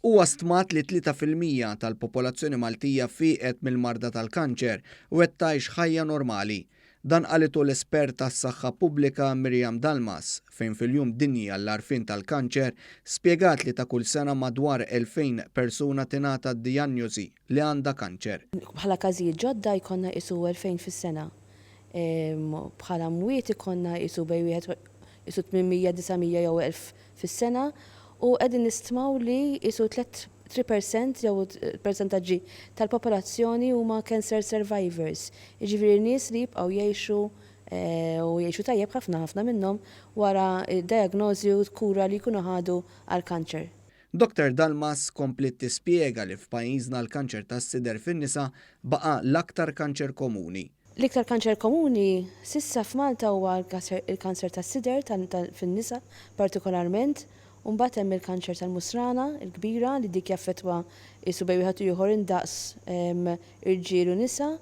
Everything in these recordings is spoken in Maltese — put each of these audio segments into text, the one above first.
Huwa stmat li tlieta fil-mija tal-popolazzjoni Maltija fieqet mill-marda tal-kanċer u qed tgħix ħajja normali. Dan qalitu l-espert għas-saħħa pubblika Miriam Dalmas fejn fil-Jum Dinji għall-Għarfien tal-Kanċer spjegat li ta' kull sena madwar 2,000 persuna tingħata d-dijanjosi. li għandha kanċer. Bħala każijiet ġodda jkollna qisu 2,000 fis-sena. Bħala mwiet ikollna qisu bejn wieħed u qisu 800, 900 jew 1,000 fis-sena u qegħdin nistmaw li qisu tliet 3 percent jew persentaġġi tal-popolazzjoni huma cancer survivors, jiġifieri nies li jibqgħu jgħixu u jgħixu tajjeb ħafna ħafna minnhom wara d-diagnosi u l-kura li jkunu ħadu għall-kanċer. Doctor Dalmas kompliet tispjega li f'pajjiżna l-kanċer tas-sider fin-nisa baqa' l-aktar kanċer komuni. L-iktar kanċer komuni s'issa f'Malta huwa l-kanser tas-sider fin-nisa partikolarment u mbagħad hemm il-kanċer tal-musrana l-kbira li dik jaffettwa qisu bejn wieħed u ieħor indaqs irġiel u nisa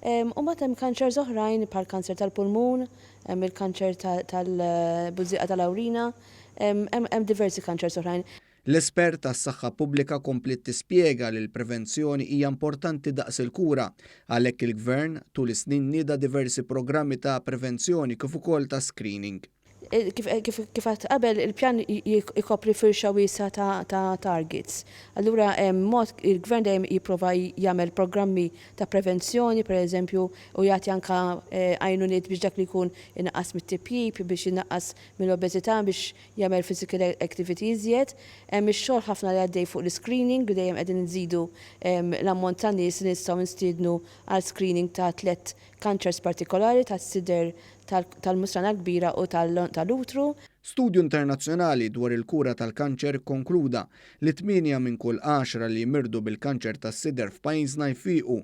u mbagħad hemm kanċers oħrajn bħall-kanser tal-pulmun, hemm il-kanċer tal-bużieqa tal-awrina. Hemm diversi kanċers oħrajn. L-espert għas-saħħa pubblika kompliet tispjega li l-prevenzjoni hija importanti daqs il-kura. Għalhekk il-Gvern, tul is-snin nieda diversi programmi ta' prevenzjoni kif ukoll ta' screening. Kif għedt qabel, il-pjan ikopri firxa wiesgħa ta' targets. Allura hemm mod, il-Gvern dejjem jipprova jagħmel programmi ta' prevenzjoni, pereżempju, u jagħti anke għajnuniet biex dak li jkun inaqqas mit-tipjip, biex inaqqas mill-obeżità biex jagħmel physical activity iżjed. Hemm ix-xogħol ħafna li għaddej fuq l-iscreening li dejjem qegħdin inżidu l-ammont ta' nies li nistgħu nstiednu għal screening ta' tliet kanċers partikolari tas-sider tal-musrana l-kbira u tal-utru. Studju internazzjonali dwar il-kura tal-kanċer kkonkluda li tmienja minn kull għaxra li jmirdu bil-kanċer tas-sider f'pajjiżna jfiequ